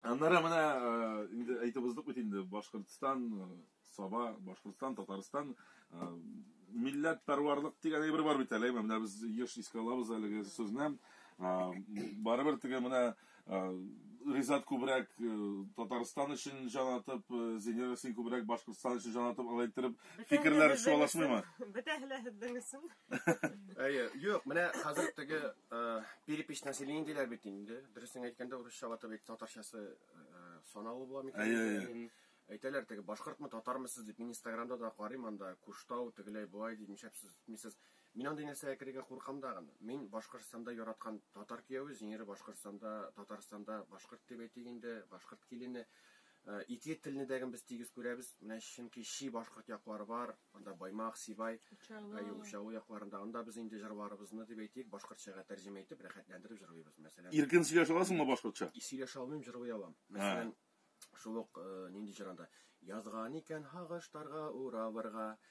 Аннары менә инде әйтеп уздык бит инде, Башкортстан, Саба, Башкортстан, Татарстан милләт пәрварлык дигән әйбер бар бит әле, менә без еш искә алабыз әлеге сүзне. Барыбер теге менә Ризат күбрәк Татарстан өчен җан атып, Зинер син күбрәк Башкортстан өчен җан атып, алай иттереп фикерләр чуалышмыймы? Бетәһе лә һездең өчен. Әйе, юк, менә хәзер теге перепись населения диләр бит инде. Дөресен әйткәндә, урысча ватып әйт, татарчасы саналу була микән? Әйе, әйе. Әйтәләр теге башкортмы, татармы сез дип, мин Инстаграмда да карыйм анда, Куштау, тегеләй буай дип, нишләп сез мисез? Мин андый нәрсәгә керергә куркам да гын. Мин Башкортстанда яраткан татар кияүе, зинере Башкортстанда, Татарстанда башкорт дип әйтик инде, башкорт килене. Итле телне дәген без тигез күрәбез, менә чөнки чи башкорт яклары бар, анда Баймак, Сибай, әйе, Учалы якларында, анда без инде җырларыбызны, дип әйтик, башкортчага тәрҗемә итеп, рәхәтләндереп җырлыйбыз, мәсәлән. Иркен сөйләшә аласыңмы башкортча? Сөйләшә алмыйм, җырлый алам. Мәсәлән, шул ук нинди җыр анда, Язган икән һагыш тарга, уравырга,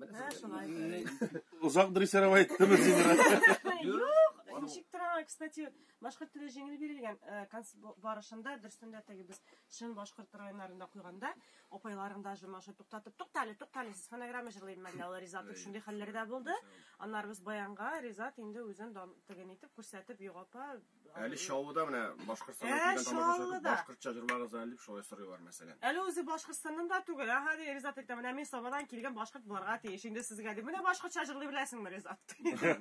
Менә шулай. Озак дрессировал иттеме син? Юк, ничек тора, кстати, башкорт теле җиңел бирелгән э, конс барышында дөрсендә теге без чын башкорт районнарында куйганда, апайларым да җырмашы туктатып, туктале, туктале, сез фонограмма җырлыйм мәллә алар Ризат дип шундый хәлләр дә булды. Аннары без баянга Ризат инде үзен дан теген итеп күрсәтеп, юк апа, Әле Чаллыда менә Башкортстаннан килгән тамашачылар башкортча җырлагыз әле дип шулай сорыйлар мәсәлән. Әле үзе Башкортстаннан да түгел, аха ди Ризат әйтә, менә мин Сабадан килгән башкорт буларга тиеш. Инде сезгә ди, менә башкортча җырлый беләсеңме, Ризат?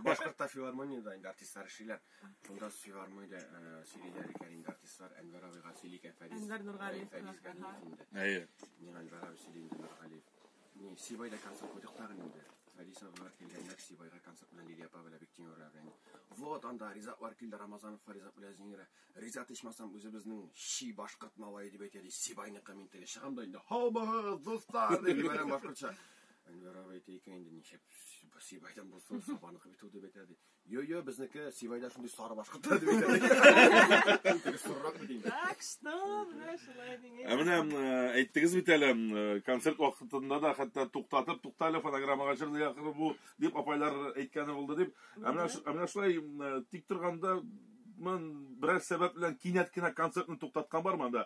Башкортта филармониядә инде артистлар эшлиләр. Шунда филармониядә э, сөйлиләр икән инде артистлар Әнвәр абыйга сөйлик Фәриз. Әнвәр Нургалиев. Фәриз Галиев инде. Әйе. Мин Әнвәр абый сөйли инде Нургалиев. Ни, Сибай да концерт куйдык тагын инде. Фәдис абыйлар килгәннәр, Сибайга концерт белән Лилия апа белән Биктимерова белән. Вот анда Ризатлар килде, Рамазановлар Ризат белән Зинирә. Ризат ичмасам үзебезнең чи башкорт малае дип әйтә ди, Сибайныкы мин теге чыгам да инде, һау булыгыз, дуслар! дип җибәрәм башкортча. Әнвәр абый әйтә икән инде, ничек Сибайдан булсын, Сабаныкы бит ул дип әйтә ди. Йо-йо, безнеке Сивайда шундый сары башкорт та дип әйтә. Сорырак бит инде. Так что, менә шулай дигән. Ә менә э, әйттегез бит әле, э, концерт вакытында да хәтта туктатып, туктале фонограммага җыр да якыр бу дип апайлар әйткәне булды дип. Ә менә ш- ә менә шулай э, тик торганда мын берәр сәбәп белән кинәт кенә концертны туктаткан бармы анда?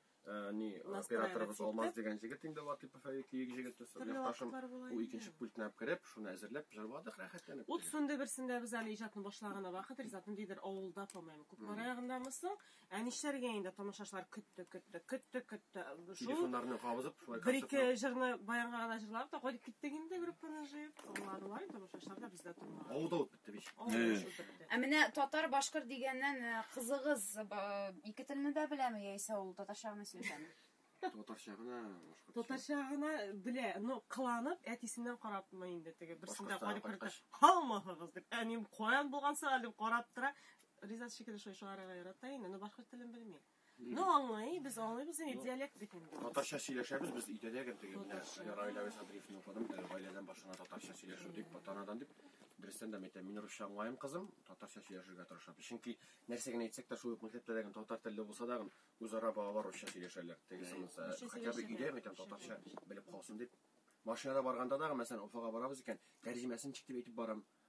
Э, ни операторыбыз алмаз дигән җегет инде латыпов әйе киек җегет якташым ул икенче пультына кереп шуны әзерләп җырладык рәхәтләнеп ут сүнде берсендә без әле иҗатны башлаганда вакыт ризат ниндидер авылда по моему күкмара ягындамы соң ә нишләргә инде тамашачылар көтте көтте көтте көтте шул телефоннарны кабызып шулай бер ике җырны баянга гына җырладык та кайтып киттек инде группаны җыеп тыңладылар тамашачылар да бездә тыңлады авылда ут Ә менә татар-башкыр дигәннән э, кызыгыз э, ике телне дә беләме яисә ул татарча гына сөйләшәме? Татарча гына, башкортча. Татарча гына белә, но кыланып әтисеннән карапмы инде теге берсендә карап кертә. Һаумыһыгыз дип, әнием каян булган сәгать дип карап тора. Ризат шикелле шуй шуарга ярата инде, но башкорт телен белми. Ну, аңлый, без аңлыйбыз инде диалект бит инде. Татарча сөйләшәбез без өйдә дә гел теге менә Раил Әвес Адриевны укыдым, теге гаиләдән башына татарча сөйләшү дип, батанадан дип. Дөрестән дә мәйтәм, мин русча аңлаем кызым, татарча сөйләшергә тырышам. Чөнки нәрсә генә әйтсәк тә шул ук мәктәптә дә татар телле булса да, үзара балалар русча сөйләшәләр. Тегесе монысы, хотя бы өйдә мәйтәм татарча белеп калсын дип. Машинада барганда да, мәсәлән, Уфага барабыз икән, тәрҗемәсен чик дип әйтеп барам.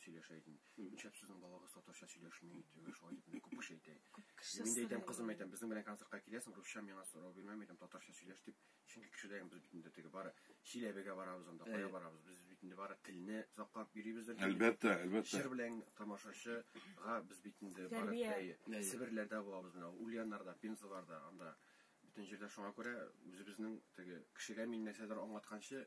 сөйләшә идем. Нишләп сезнең балагыз татарча сөйләшми? Дип шулай дип мине күп кеше әйтә. Мин дә әйтәм, кызым әйтәм, безнең белән концертка киләсең, русча миңа сорау бирмәм, әйтәм, татарча сөйләш дип. Чөнки кешедә без бит инде теге бары Чиләбегә барабыз анда, кая барабыз, без бит инде бары телне саклап йөрибездер инде. Әлбәттә, әлбәттә. Җыр белән тамашачыга без бит инде бары Себерләрдә булабыз менә, Ульяннарда, Пензаларда, анда бөтен җирдә. Шуңа күрә үзебезнең теге кешегә мин нәрсәдер аңлатканчы,